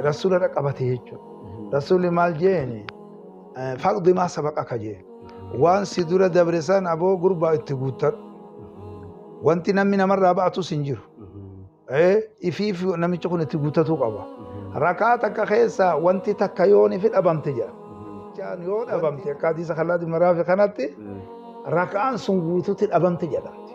Rasuula dhaqabate jechuudha. Rasuulli maal jeeni faqdi maa sabaqa ka jee waan si dura dabre san aboo gurbaa itti guuttadhu. Wanti namni namarraa ba'atus hin jiru. Ifiif namichi kun itti guuttatuu qaba. Rakaa takka keessa wanti takka yoon ifi dhabamte jedha. Jechaan yoo dhabamte akka hadiisa kallaa dimaraafi kanatti rakaan sun guututti dhabamte jedhamti.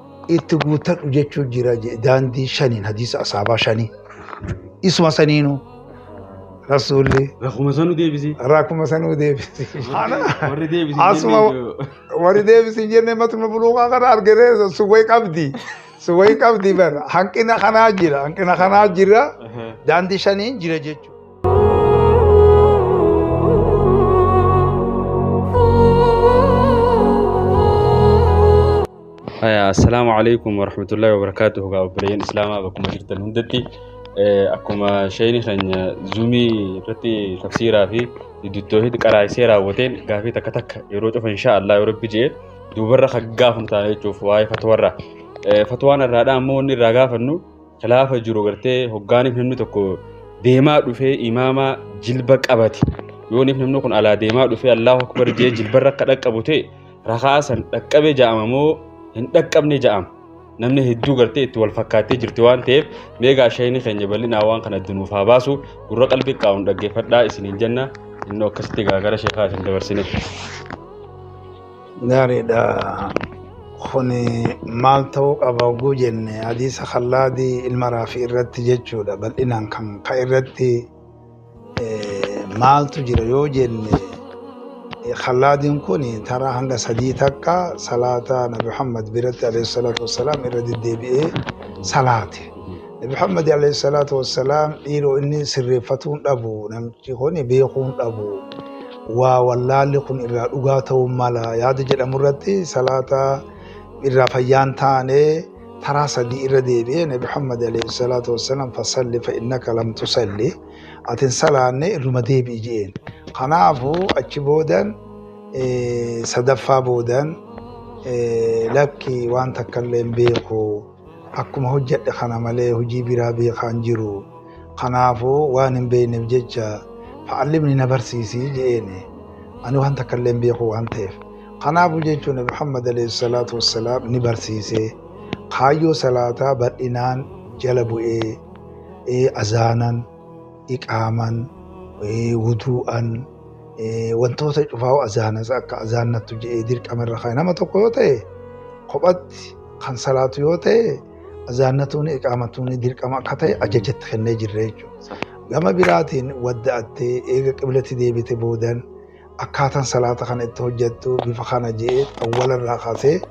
itti guuttadhu jechuu jira je- daandii shaniin hadiisa asaabaa shanii isuma saniinu rasuulli Rakkuma sanuu deebisee. rakkuma sanuu deebisi Warri deebisee asuma jennee warri deebisi jenne matuma buluuqaa kana argitee suwwee qabdi suwwee qabdi bar hanqina kanaa jira hanqina kanaa jira daandii shaniin jira jechuudha. Assalaamu alaikum warahmatullahi wabarakatuh gaa obboleeyyan islaamaa bakkuma jirtan hundatti akkuma sheeyni keenya zuumii irratti tafsiiraa fi duttoohitti qaraa'isee raawwateen gaafii takka takka yeroo cufa insha Allah yoo rabbi jee duubarra kan gaafamtaa jechuuf waa'ee fatwarra fatwaan irraadhaa ammoo inni irraa gaafannu Khilaafa jiru gartee hoggaaniif namni tokko deemaa dhufee imaamaa jilba qabate yooniif namni kun alaa deemaa dhufee Allahu akbar jee jilbarra akka dhaqqabu ta'e rakaa san dhaqqabe ja'ama moo hin dhaqqabne ja'ama namni hedduu gartee itti wal fakkaattee jirti waan ta'eef meegaa shayni keenya bal'inaa waan kana dunuuf haa baasu gurra qalbii qaawun dhaggeeffadhaa isiniin jenna innoo akkasitti gaagara sheekaa isin dabarsine. Gaariidha. Kun maal ta'uu qaba oguu jenne hadiisa kallaadii ilma raafii irratti jechuudha bal'inaan kan ka irratti maaltu jira yoo jenne kallaadiin kun taraa hanga sadii takka salaata nabi Muhammad biratti alayhi salaatu wassalaam irra deddeebi'ee salaate. Nabi Muhammad alayhi salaatu wassalaam dhiiroo inni sirreeffatuun dhabu namichi kun beekuun dhabu. waa wallaalli kun irraa dhugaa ta'uu mala yaada jedhamu irratti salaata irraa fayyaan taane taraa sadii irra deebi'ee nabi Muhammad alayhi salaatu wassalaam fasalli fa innaka lam tusalli atin salaanne irruma deebi'i je'een kanaafu achi boodan sadaffaa boodan lakki waan takkallee hin beeku Akkuma hojjedhe kana malee hojii biraa beekaa hin jiru. Kanaafuu waan hin beekneef jecha fa'allimni na barsiisi je'eeni. Ani waan takka illee hin beeku waan ta'eef. Kanaafuu jechuun Nabi Muhammad alayhi salaatu wassalaam ni barsiise. Kaayyoo salaataa bal'inaan jala bu'ee ee azaanan iqaaman wuduu'an wantoota cufaa'u azaanas akka azaannattu je'ee dirqama irra kaa'e nama tokko yoo ta'e kophatti kan salaatu yoo ta'e azaannatuun iqaamatuun dirqama akka ta'e ajajatti kennee jirre jechuudha. Gama biraatiin wadda'attee eega qiblatti deebite boodan akkaataan salaata kana itti hojjattu bifa kana je'ee awwala irraa kaasee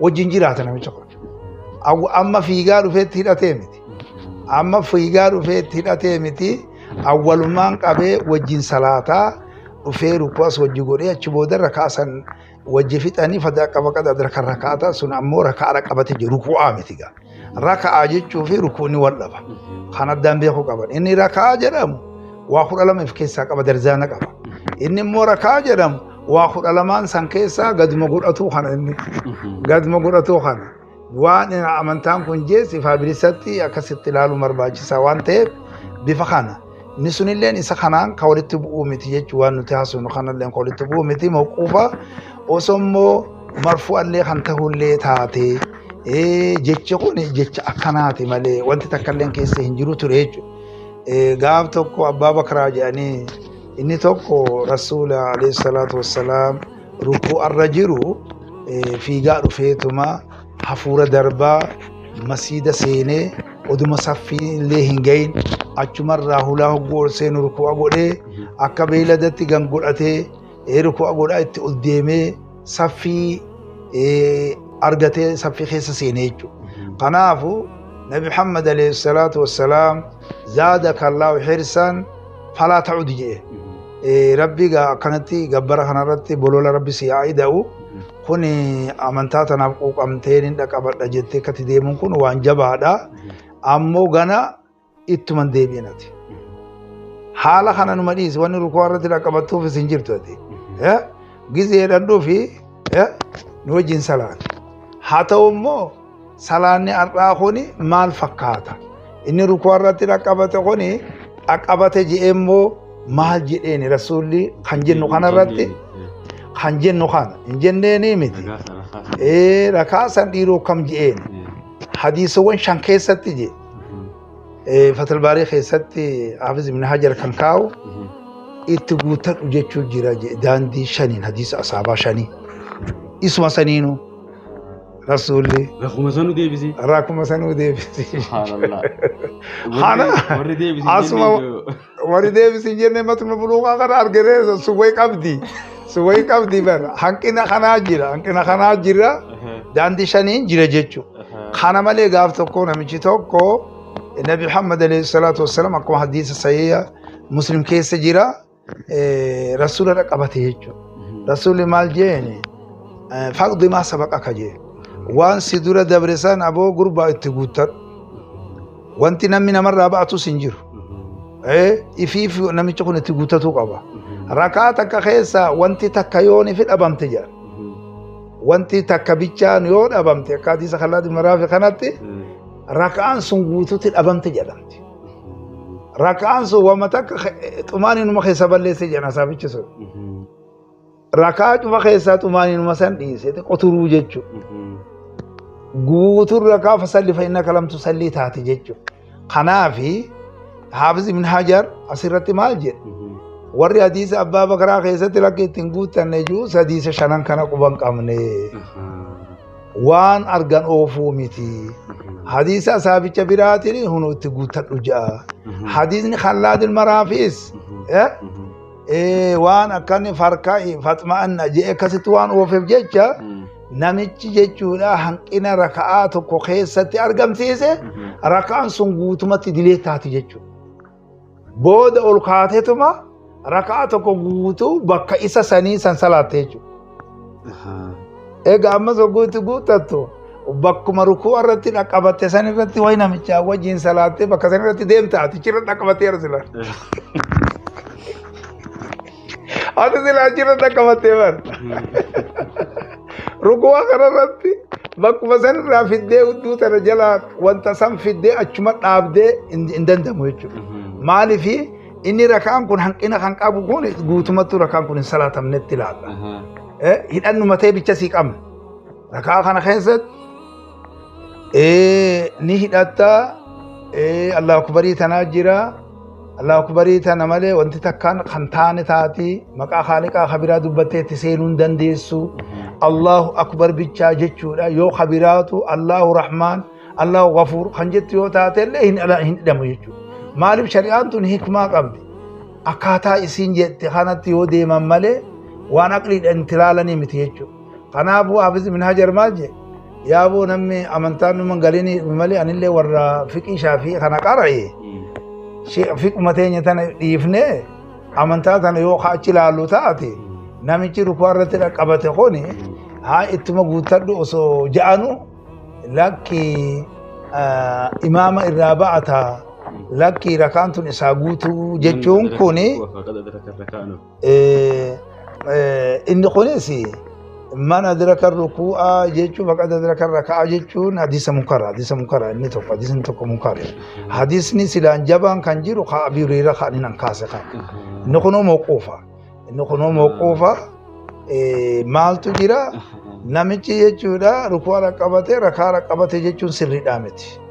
wajjin jiraata namicha kun. Awwa- Amma fiigaa dhufeetti hidhatee miti. Amma fiigaa dhufeetti hidhatee miti. Awwalumaan qabee wajjin salaataa dhufee rukuas wajji godhee achi booda rakaa san wajji fixanii fadaa qaba qada rakaa sun ammoo rakaa qabate jiru ruku'aa miti gaa. Raka'aa jechuu fi rukuunni wal dhaba. Kan addaan beekuu qaban. Inni raka'aa jedhamu waa kudha lama if keessaa qaba darjaana qaba. Inni immoo raka'aa jedhamu waa kudha lamaan san keessaa gaduma godhatuu kana inni. Gaduma godhatuu kana. Waan amantaan kun jees ifaa bilisatti akkasitti ilaaluun barbaachisaa waan ta'eef bifa kana. Inni sunilleen isa kanaan kan walitti bu'uu miti jechuun waan nuti haasofnu kanalleen kan walitti bu'uu miti mawquufa osoo immoo marfu'allee kan ta'ullee taate jechi kun jecha akkanaati malee wanti takkalleen keessa hin jiru ture jechuudha. Gaaf tokko abbaa bakraa jedhanii inni tokko rasuula alayhi salaatu wassalaam rukuu'arra jiru fiigaa dhufeetuma hafuura darbaa masiida seenee oduma saffii illee hin gahin achumarraa hulaa hogguu ol seenu ruku'a godhee akka beeyladatti gan godhatee ee ruku'a godhaa itti ol deemee saffii ee, argatee saffii keessa seenee jechuudha. Kanaafu Nabi Muhammad alayhi salaatu wassalaam zaada kallaahu hirsaan falaa ta'udu jedhe. Eh, Rabbi gaa akkanatti gabbara kanarratti bolola Rabbi si haa ida'u. Kun amantaa tanaaf quuqamtee nin dhaqabadha jettee akkatti deemuun kun waan jabaadha. Ammoo gana ittuman deebi'in ati. Haala kana numa dhiisi wanni rukuu irratti dhaqabattuufis hin jirtu ati. Eh? Gizeedhaan dhufi eh? nu wajjin salaati. Haa ta'u immoo salaanni har'aa kun maal fakkaata inni rukuu irratti dhaqqabate kun dhaqqabate je'ee immoo maal jedheeni rasuulli kan jennu kana irratti kan jennu kana hin jenneeni miti ee rakaa san dhiiroo kam je'een hadiisawwan shan keessatti je fatalbaarii keessatti hafiz ibn hajar kan kaa'u itti guutadhu jechuu jira je daandii shaniin hadiisa asaabaa shanii isuma saniinuu Rasuulli Rakkuma sanuu deebisee. rakkuma sanuu deebisi. Subhaanallah. Haala Warri deebisee. asuma warri deebisi hin jenne matuma buluuqaa kana argitee suwwee qabdi. Suwwee qabdi bar hanqina kanaa jira hanqina kanaa jira daandii shaniin jira jechuudha. Kana malee gaaf tokko namichi tokko Nabi Muhammad alayhi salaatu wassalaam akkuma hadiisa sahiha Muslim keessa jira. rasuula irra qabate jechuudha. Rasuulli maal jeeni faqdi maa sabaqa ka jee waan si dura dabre san aboo gurbaa itti guuttadhu. Wanti namni namarraa ba'atus hin jiru. Ifiif namichi kun itti guuttatuu qaba. Rakaa takka keessa wanti takka yoon ifi dhabamte jedha. Wanti takka bichaan yoo dhabamte akka hadiisa kallaa dimaraafi kanatti rakaan sun guututti dhabamte jedhamti. raka'aan sun wama takka xumaaninuma keessa balleesse jedhan asaabichi sun raka'aa cufa keessaa xumaaninuma san dhiise qoturuu jechuudha guutuun raka'aa fasalli fayyina kalamtu sallii taate jechuudha kanaafi haafiz ibn hajar asirratti maal jedhe warri hadiisa abbaa bakaraa keessatti lakki ittiin guuttanne jiru sadiisa shanan kana quban qabne. waan argan oofuu miti hadiisa asaabicha biraatiin hunu itti guuttadhu ja'a hadiisni khallaadil maraafiis eh, eh, waan akkanni farkaa faxma'anna jee akkasitti waan oofeef jecha namichi jechuudha hanqina raka'aa tokko keessatti argamsiise raka'aan sun guutumatti dilee taati jechuudha. booda ol kaateetuma raka'aa tokko guutuu bakka isa sanii san salaatte jechuudha. Ahaa. Egaa ammas hogguutti guuttattu bakkuma rukuu irratti dhaqqabatte san irratti wayi namichaa wajjin salaattee bakka san irratti deemta atichi irra dhaqqabattee arsilan. Ati silaa achirratti akka battee bar. Rukuwaa kanarratti bakkuma sanirraa fiddee udduu tana jalaa wanta san fiddee achuma dhaabdee hin hin danda'amu jechuudha. Maaliif inni rakaan kun hanqina kan qabu kun guutumattuu rakaan kun hin salaatamnetti ilaalla. Eh, Hidhannuma ta'e bicha sii qabna. Rakaa kana keessatti ni hidhatta allah akbarii tanaa jira allah akbarii tana malee wanti takkaan kan taane taati maqaa haaliqaa kabiraa dubbattee itti seenuu hin dandeessu allahu akbar bichaa jechuudha yoo kabiraatu allahu rahmaan allahu gafuur kan jettu yoo taate illee hin hidhamu jechuudha maaliif shari'aan tun hikmaa qabdi akkaataa isiin jette kanatti yoo deeman malee waan aqliidhaan itti ilaalanii miti jechuudha Kanaafuu Hafiz ibn Hajar maal jedhe? Yaa boo namni amantaan dhuma galiin malee anillee warra fiqii shaafii kana qara'e fiquma teenya tana dhiifnee amantaa tana yoo achi ilaallu taate namichi rukuu irratti dhaqqabate kuni haa ittuma guuttadhu osoo ja'anu lakki imaama irraa ba'ata lakki rakaan tun isaa guutuu jechuun kuni Inni kunis man adraka ruku'a jechuun faqad adraka raka'a jechuun hadiisa munkara hadiisa munkara inni tokko hadiisni tokko munkara hadiisni silaan jabaan kan jiru ka Abii Hureyra kan inni kaase kan inni kunoo mawquufa inni kunoo mawquufa maaltu jira namichi jechuudha ruku'a rakkabate rakaa rakkabate jechuun sirriidhaa miti.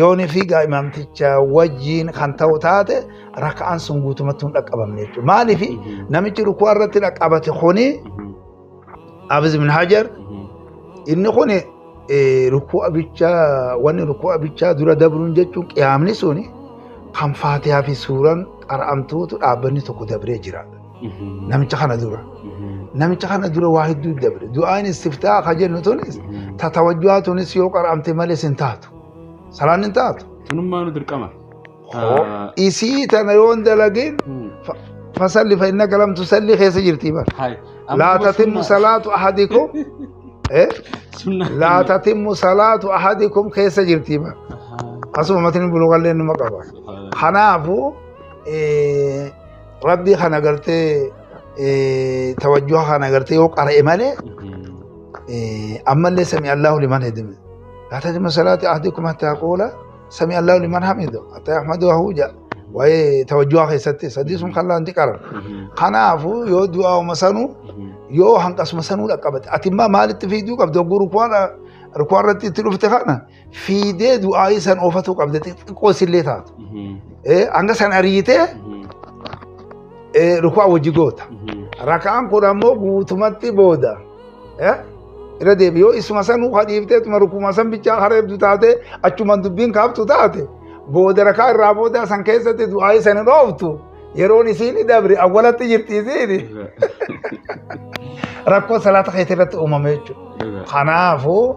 yoonii fi imaamticha wajjiin kan ta'u taate raka'aan sun guutumatti hin dhaqqabamne jechuudha. Maaliif namichi rukuu irratti dhaqqabate kuni Abiz bin Hajar inni kun rukuu abichaa wanni rukuu abichaa dura dabruun jechuun qiyaamni suni kan faatiyaa fi suuraan qara'amtuutu dhaabbanni tokko dabree jira. namicha kana dura namicha kana dura waa hedduu dabre du'aan istiftaa ka jennu tunis ta tawajjuhaa tunis yoo qara'amte malee sin taatu salaan hin taatu Sunummaa nu dirqama. isii tana yoon dalagin fasalli fa innaka lam tusalli keessa jirti bar Hai. laa tatimmu salaatu ahadikum eh Sunnaa. laa tatimmu salaatu ahadikum keessa jirti bar asuma matni bulugallee numa qaba kanaafu eh, rabbii kan agartee tawajjuha kan agartee yoo qara'e malee ammallee sami allahu liman hedime laa tajma salaati ahdikum hattaa quula sami allahu liman hamidu hattaa yahmadu ahuuja waa'ee tawajjuha keessatti sadii sun kan laanti qaran kanaafuu yoo du'aa'uma sanuu yoo hanqasuma sanuu dhaqqabate ati immaa maalitti fiiduu qabda oguu rukuwaan irratti itti dhufte kana fiidee du'aayii san oofatu qabda xixiqqoo isillee taatu. Eh, Hanga san ariitee eh, ruku'aa wajji goota. Raka'aan kun ammoo guutumatti booda. Eh, Irra deebi yoo isuma san ufa dhiiftee tuma rukuma san bichaa hareebdu taate achuman dubbiin kaaftu taate booda rakaa irraa booda san keessatti du'aayii san hin ooftu yeroon isiin dabre awwalatti jirti isiin rakkoo salaata keetii irratti uumame jechuudha. Kanaafuu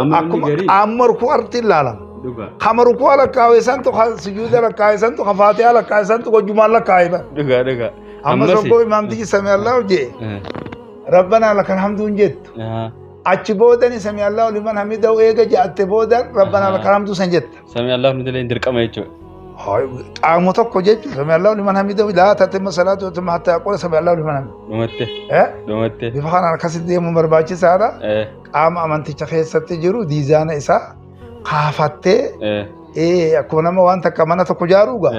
Amma inni garii amma ruku'arti ilaalama. dhugaa. Kama ruku'a lakkaa'e santu kan sujuuda lakkaa'e santu kan faatiyaa lakkaa'e santu gojumaan lakkaa'e bara. Dhugaa dhugaa. Amma soggoo imaamtichi sami Allahu jee rabbanaa lakal hamduun jettu. Achi boodani sami Allahu liman hamidahu eega ja'atte boodan rabbanaa lakal hamduu san jetta. Samii Allaah hamidillee hin dirqama jechuudha. Qaama tokko jechuun samii Allaah liman hamidoo laa tatimma salaatu yoo tumma hattaa qola samii Allaah liman hamidoo. Dhumatte. Dhumatte. Bifa kanaan akkasitti deemuun barbaachisaadha. Qaama amanticha keessatti jiru diizaana isaa kaafattee akkuma nama waan takka mana tokko jaaruuga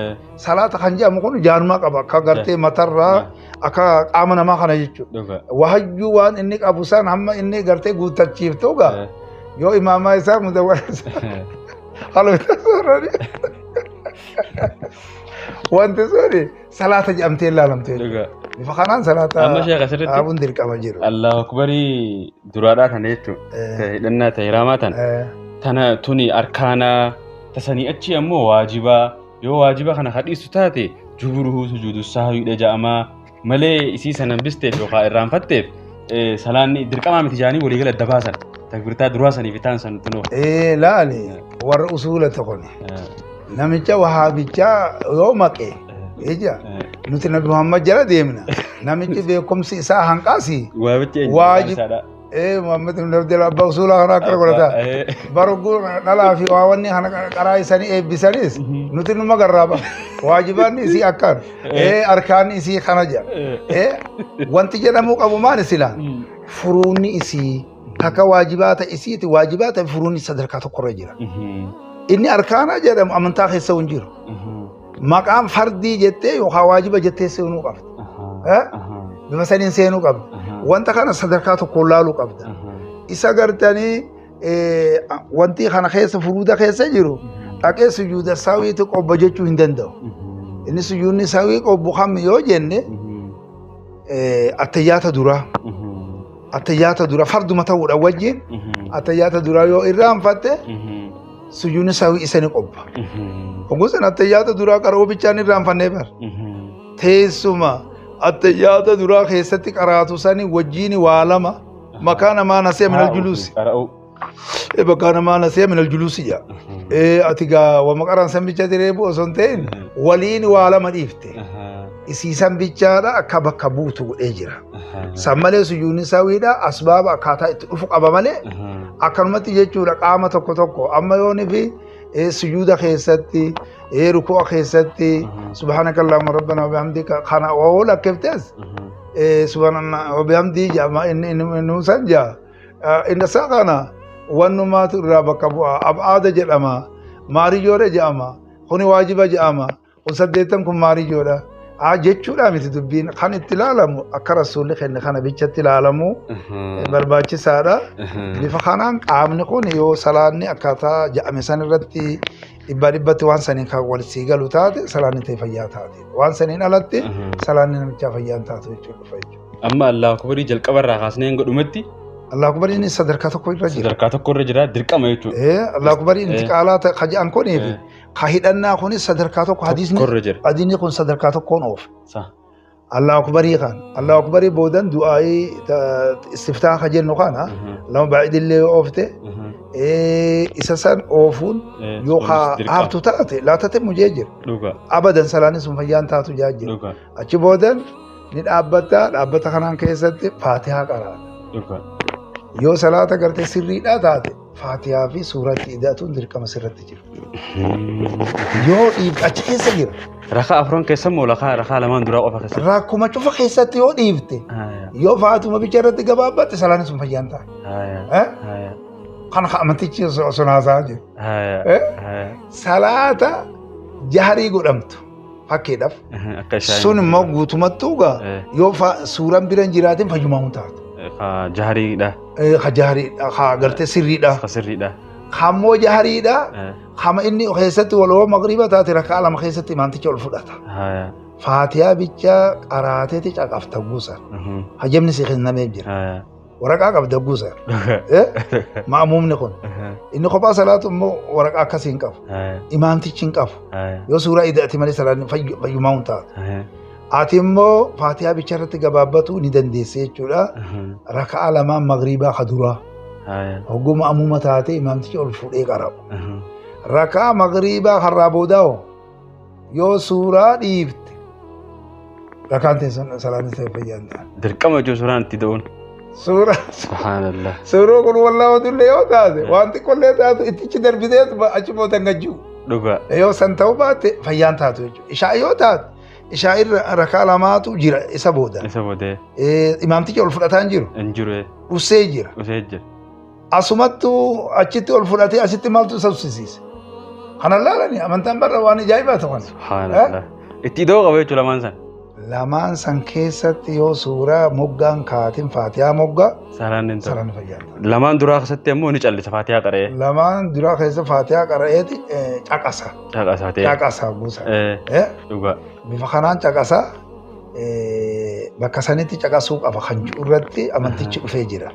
salaata kan jedhamu kun jaarumaa qaba akka gartee matarraa akka qaama namaa kana jechuudha. Dhuga. Wahayyuu waan inni qabu san hamma inni gartee guuttachiiftu gaa Eh, yoo imaamaa isaa mudawwara isaa haaluma isaa soorani. Wanti suni salaata jedhamtee ilaalamte jechuudha. Dhuga. Bifa kanaan salaata Amma sheekha sirritti. dhaabuun dirqama jiru. Allahu akbarii duraadhaa tana jechuun. Eh, Hidhannaa ta'e hiraamaa tana. eh, Tana tuni arkaanaa tasanii achi ammoo waajibaa yoo waajiba kana ka dhiistu taate juburuhu sujuudu sahwiidha ja'amaa malee isii san hambisteef yookaan irraanfatteef eh, salaanni dirqamaa miti jaanii walii gala adda baasan takbirtaa duraa saniif itaan san tunoo ee laali warra usuula tokkoni namicha wahaabichaa yoo maqe ija nuti nabi muhammad jala deemna namichi beekumsi isaa hanqaasi waabichi Waaji- eenyu Ee Muhammad ibn Abdul Abbaa usuulaa kana akka godhata. Barguu dhalaa fi waa wanni kana qaraa isanii eebbisanis nuti numa garraaba. Waajibaanni isii akkaan. Ee arkaanni isii kana jedha. Ee wanti jedhamuu qabu maali sila? Furuunni isii takka waajibaata isiiti waajibaata furuunni sadarkaa tokkorra jira. Inni arkaanaa jedhamu amantaa keessa hin jiru. Maqaan fardii jettee yookaan waajiba jettee seenuu qabda. Eh? Bifa saniin seenuu qabda. Wanta kana sadarkaa tokkoon laaluu qabda. Isa gartanii eh, wanti kana keessa furuuda keessa jiru dhaqee sujuuda saawiitti qobba jechuu hin danda'u. Inni sujuudni saawii qobbu kam yoo jenne eh, attayyaata duraa. Attayyaata duraa farduma ta'uudha wajjin attayyaata duraa yoo irraanfatte sujuudni sahwi isa ni qopha hogguu san attayyaata duraa qara'uu bichaan irraanfannee bar teessuma attayyaata duraa keessatti qaraatu sani wajjiini waa lama makaa namaa nasiya minal juluusi qara'uu Eh, bakka namaa nasiya minal juluusi jaa Eh, ati gaa wama qaraan san bicha diree bu'u osoo hin ta'in waliin waa lama dhiifte isiisan bichaadha akka bakka buutu godhee jira. San malee sujuudni sawiidha asbaaba akkaataa itti dhufu qaba malee akkanumatti jechuudha qaama tokko tokko amma yoonii fi eh, sujuuda keessatti eh, ruku'a keessatti subhaanaka allahumma rabbana wa bihamdika kana wawoo lakkiftes eh, subhaanallah wa bihamdii jedhama inni inni inni san jedha Eh, inni isaa kana wannumaatu irraa bakka bu'a ab'aada jedhama maariyyoodha jedhama kuni waajiba jedhama kun saddeettan kun maariyyoodha aa jechuudhaa miti dubbiin kan itti ilaalamu akka rasuulli kenne kana bichatti ilaalamu barbaachisaadha bifa kanaan qaamni kun yoo salaanni akkaataa ja'ame san irratti dhibbaa dhibbatti waan saniin kan wal sii galu taate salaanni ta'e fayyaa taate waan saniin alatti salaanni namichaa fayyaa hin taatu jechuudha dhufa jechuudha. Amma Allahu Akbarii jalqaba irraa kaasnee hanga dhumatti Allahu Akbariin sadarkaa tokko irra jira. sadarkaa tokko irra jira dirqama jechuudha. Eh, Allahu Akbariin Eh. intiqaalaa ta'e kaja'an kuniif Eh. ka hidhannaa kunis sadarkaa tokko hadiisni Tokkorra jira. hadiisni kun sadarkaa tokkoon oofa Sa. Allahu akbarii kan Allahu akbarii boodan du'aa'ii ta- istiftaa ka jennu kana Mhm. lama baay'idillee yoo oofte Mhm. eh, isa san oofuun Eh, yoo sunis haa- dirqama. haaftu taate laatate mujee jira Dhuga. abadan salaanni sun fayyaan taatu jaa jira Dhuga. achi boodan ni dhaabbatta dhaabbata kanaan keessatti faatihaa qaraata Dhuga. yoo salaata gartee sirriidhaa taate Faatiyaa fi suuraa itti ida'atuun dirqama sirratti jira. Yoo dhiif achi keessa jira. Rakaa afran keessa moo lakaa rakaa lamaan duraa qofa keessa? Rakkuma cufa keessatti yoo dhiifte Haya, yoo faatuma bicha irratti gabaabbatte salaanni sun fayyaan ta'a. haya, Eh? haya, Kan amantichi osoo osoo naasaa jiru. haya, Eh? haya. Salaata jahrii godhamtu. fakkeedhaaf. Akka shaayii. Sun immoo guutumattuu gaa Eh. yoo fa- suuraan bira hin jiraatin fayyumaa hin taatu. Ka jahariidha. Eh, Ka jaariidha, ka agartee sirriidha, Ka sirriidha. ka immoo jaariidha, Eh, kama inni keessatti waloo magriiba taate rakkaa lama keessatti imaanticha ol fudhata. Haya. Faatiyaa bichaa qaraateeti caqafta guusa. Mhm. Hajamni si kennameef jira. Haya. Waraqaa qabda guusa. Ma'amuumni kun. Inni kophaa salaatu immoo waraqaa akkasii hin qabu. Imaamtichi hin qabu. Yoo suuraa ida'ati malee salaanni fayyumaa hin taatu. Ati immoo faatiyaa bicha irratti gabaabbatuu ni dandeessa jechuudha. Raka'aa lamaan magriibaa ka duraa. Hogguu ma'amuuma taatee imaamtichi ol fuudhee qara'u. Raka'aa magriibaa karraa boodaa hoo? Yoo suuraa dhiifte rakaan teessan salaanni ta'e fayyaa hin taane. Dirqama jechuun suuraan itti da'uun. Suuraa Subhaanallah. suuroo kun wallaa odullee yoo taate waan xiqqollee taatu ittichi darbitee achi booda hin gajjuu. Dhugaa. Yoo san ta'uu baatte fayyaan taatu jechuudha. Ishaa yoo taate ishaa irra rakaa lamaatu jira isa booda. Isa boodee Eh, Imaamtichi ol fudhataan jiru hin jiru dhussee jira. dhufee jira. Asumattu achitti ol fudhatee asitti maaltu isa uffisiise? Kana laalani amantaan barra waan ajaa'ibaa ta'u kana. Subhaanallah. Itti idoo qaba jechuudha lamaan san. Lamaan san keessatti yoo suuraa moggaan kaatin faatiyaa moggaa Salaan hin ta'u. saraan fayyada. Lamaan duraa keessatti ammoo ni callisa faatiyaa qara'ee. Lamaan duraa keessa faatiyaa qara'eeti eh, caqasa. Caqasaa ta'e. Caqasa buusa. Eh, Eh, Dhugaa. Bifa kanaan caqasa. bakka sanitti caqasuu qaba kan jiru irratti amantichi dhufee jira.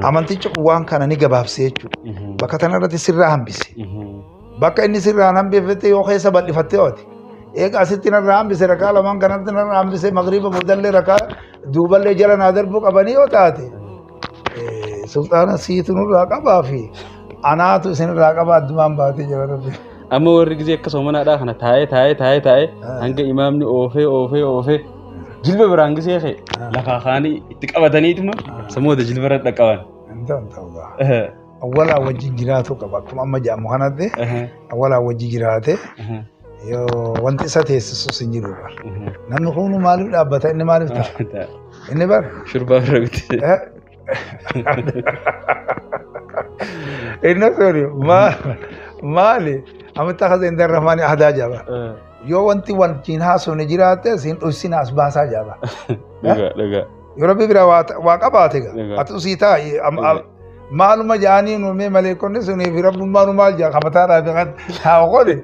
Amantichi kun waan kana ni gabaabsee jechuudha. Bakka kana irratti sirraa hambise. Bakka inni sirraan hambifte yoo keessa bal'ifattee ooti. Eega asitti narraa hambise rakaa lamaan kanatti narraa hambise magriiba boodallee rakaa duuballee jala naa darbuu qabanii yoo taate. Sulxaana siitu nurraa qabaa fi anaatu isinirraa qabaa addumaan baatee jira rabbi. Amma warri gizee akka soomanaadhaa kana taa'ee taa'ee taa'ee taa'ee hanga imaamni oofee oofee oofee jilba biraan gizee kee lafaa kaanii itti qabataniituma samooda jilba irra dhaqqaban. Awwalaa wajjin jiraatu qaba akkuma amma jedhamu kanatti awwalaa wajjin jiraate Wanti isa teessisus hin jiru. Namni kuunu maaliif dhaabbata inni maaliif ta'a? Inni bar. Shurbaa bira miti. Inni sori maali amitti akka seentan irra maani aadaa jaba. Yoo wanti wal ciin haasofne jiraate siin dhussin as baasaa jaba. Dhugaa dhugaa. Yoo rabbi bira waa ta- waa qabaate ga Egaa. atu sii taa am- am- maaluma jaanii nuumee maleekonni sunii fi rabbummaa nu maal jaa kamataa dhaa fi kan haa qole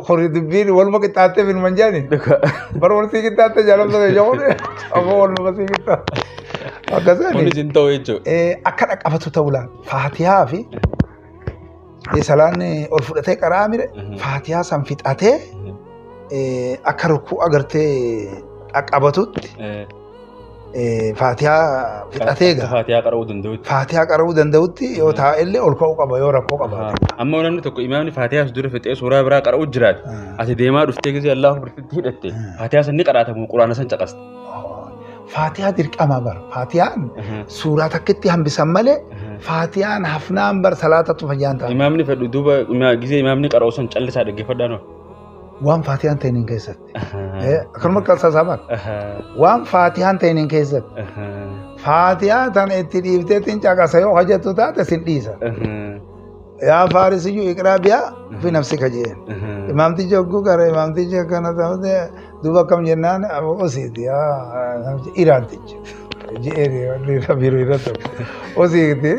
kori dubbiin waluma qixxaattee fi numan jaanii Dhugaa. bara wal sii qixxaattee jaalamsa kee jahuun amma wal numa sii qixxaatte akkasani Kunis hin ta'u jechuudha. akka dhaqabatu ta'u laata faatihaa fi Salaan ol fudhatee qaraa mire faatiyaa san fixatee akka rukkuu agartee qaqqabatutti faatiyaa fixatee gaa. Faatiyaa qara'uu danda'utti. Faatiyaa qara'uu danda'utti yoo taa'ellee ol ka'uu qaba yoo rakkoo qaba. Amma namni tokko imaamni faatiyaa dura fixee suuraa biraa qara'uu jiraate. Ati deemaa dhuftee gisee Allahu Akbar hidhatte. Faatiyaa san ni qara'atamu quraana san caqasta. Faatiyaa dirqamaa bar. Faatiyaan suuraa takkitti hambisan malee faatiyaan hafnaan bar salaatatu fayyaan ta'a. Imaamni fedhu duuba ima- gisee imaamni qara'u sun callisaa dhaggeeffadhaa noo. Waan faatiyaan ta'iniin keessatti. Eh, Akkanuma qalsasaa bar. Waan faatiyaan ta'iniin keessatti. Faatiyaa tan itti dhiifteetiin caqasa yoo hojjettu taate sin dhiisa. Yaa faarisiyyuu iqraa biyaa fi nafsi kajeen. Imaamtichi hogguu gara imaamtichi akkana ta'u Duuba akkam jennaan osiiti iraantichi jedhee biiroo irra tokko osiiti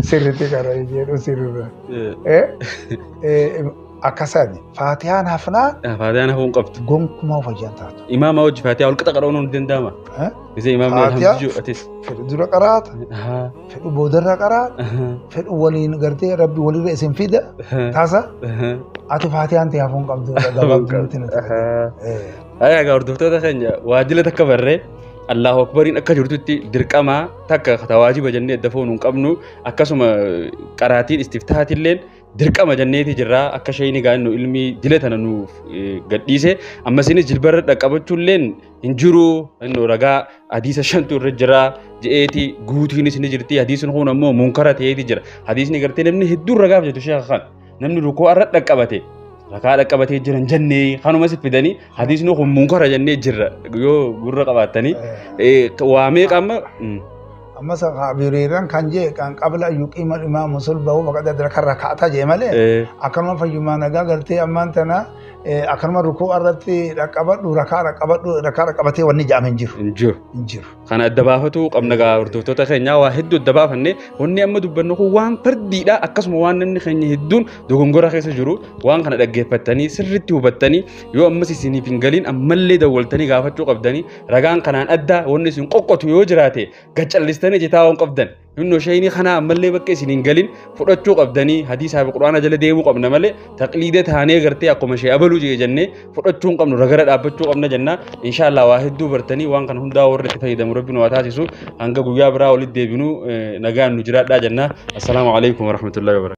sirriitti kana jedhu sirriirra. Akkasaan faatiyaan hafnaa Faatiyaan hafuu hin qabdu. gonkumaa of ajaan taatu. Imaama hojii faatiyaa wal qixa qadhoon ni danda'ama. Gisee imaamni Faatiyaa. alhamdu jiru atis. fedhu dura qaraata Ahaa, fedhu boodarra qaraata ahaa, fedhu waliin gartee rabbi walirra isin fida ahaa, taasa ahaa. ati faatiyaan ta'e hafuun qabdu gabaabduu nutti nuti Ahaa. Eh, Haya egaa hordoftoota keenya waajjila takka barree Allahu Akbariin akka jirtutti dirqamaa takka tawaajiba jennee adda foonuu hin qabnu akkasuma qaraatiin istiftaatilleen dirqama jenneeti jirra akka sheeyni gaa'innu ilmii dila tana nuuf eh, gadhiise ammasinis jilbarra dhaqqabachuulleen hin jiru inni ragaa hadiisa shantu irra jira je'eeti guutiinis ni jirti hadiisni kun ammoo munkara ta'eeti jira hadiisni gartee namni hedduun ragaaf jetu sheekha kan namni rukoo irra dhaqqabate rakaa dhaqqabatee jiran jennee kanumas fidanii hadiisni kun munkara jennee jirra yoo gurra qabaattanii waa meeqa amma amma sa abiriirran kan jee kan qabla yuqiima imaamu sulbahu faqad adraka raka'ata jee malee akkanuma fayyumaa nagaa gartee ammaan tana akkanuma rukuu irratti dhaqqabadhu rakaa dhaqqabadhu rakaa dhaqqabatee wanni ja'ame hin jiru. Hin jiru. Hin jiru. Kana adda baafatu qabna gaa hordoftoota keenyaa waa hedduu adda baafanne wanni amma dubbannu kun waan fardiidha akkasuma waan namni keenya hedduun dogongora keessa jiru waan kana dhaggeeffattanii sirriitti hubattanii yoo ammas isiniif hin galiin ammallee dawwaltanii gaafachuu qabdanii ragaan kanaan adda wanni isin qoqqotu yoo jiraate gad callistanii jetaa waan qabdan Innoo shayinii kana ammallee bakka isin hin galin fudhachuu qabdanii hadiisaa fi quraana jala deemuu qabna malee taqliidee taanee gartee akkuma shee abaluu jee jennee fudhachuu hin qabnu ragara dhaabbachuu qabna jenna inshaallah waa hedduu bartanii waan kana hundaa warri itti fayyadamu rabbi nu haa taasisu hanga guyyaa biraa walitti deebinu nagaan nu jiraadhaa jenna assalaamu alaikum warahmatullahi wabarakatuh